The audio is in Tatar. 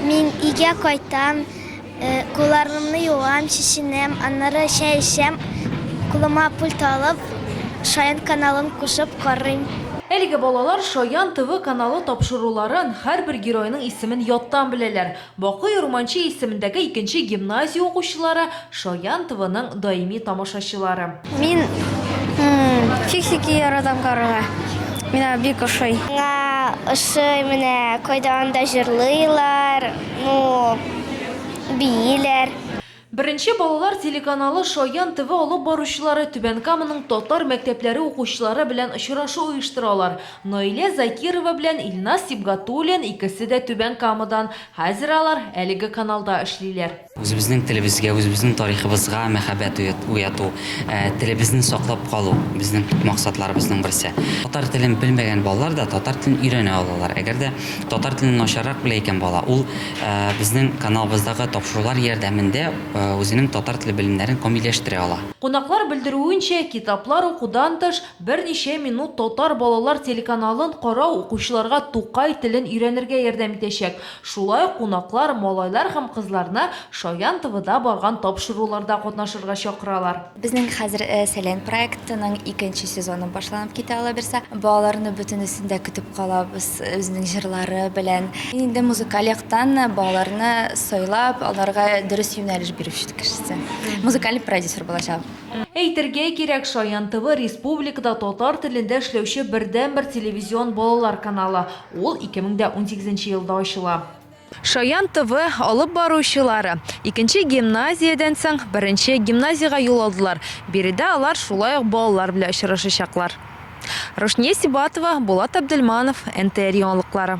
Мин өйгә кайтам, кулларымны юам, чишенәм, аннары чәй эчәм, кулыма пульт алып, Шаян каналын кушып карыйм. Әлеге балалар Шаян ТВ каналы тапшыруларын, һәрбер геройның исемен яттан беләләр. Бакый Урманче исемендәге икенче гимназия укучылары Шаян ТВның даими тамашачылары. Мин фиксики яратам карарга. Мина бик ошый. Миңа ошый менә кайда анда җырлыйлар, ну бииләр. Беренче балалар телеканалы Шаян ТВ алып баручылары Түбән Каманың татар мәктәпләре укучылары белән очрашу оештыралар. Наилә Закирова белән Илназ Сибгатуллин икесе дә Түбән Камадан. Хәзер алар әлеге каналда эшлиләр. Үзебезнең телебезгә, үзебезнең тарихыбызга мәхәббәт уяту, телебезне саклап калу, безнең төп максатларыбызның берсе. Татар телен белмәгән балалар да татар телен өйрәнә алалар. Әгәр дә татар телен начаррак белә икән бала, ул безнең каналыбыздагы тапшырулар ярдәмендә үзенең татар теле белемнәрен камилләштерә ала. Кунаклар белдерүенчә, китаплар укудан тыш, берничә минут Татар балалар телеканалын карау укучыларга Тукай телен өйрәнергә ярдәм итәчәк. Шулай кунаклар малайлар һәм кызларны Шаян ТВда барган тапшыруларда катнашырга чакыралар. Безнең хәзер Сәлән проектының икенче сезоны башланып китә алаберса. Балаларны бөтенесен дә көтеп калабыз үзенең җырлары белән. Мин инде музыкаль яктан балаларны сайлап, аларга дөрес юнәлеш бирүче кешесе, музыкаль продюсер булачак. Әйтергә кирәк, Шаян ТВ республикада татар телендә эшләүче бердәнбер телевизион балалар каналы. Ул 2018 нче елда ачыла. Шаян ТВ алып баручылары икенче гимназиядән соң беренче гимназиягә юл алдылар, биредә алар шулай ук балалар белән очрашачаклар. Рушния Сибатова, Булат Абделманов, НТР яңалыклары.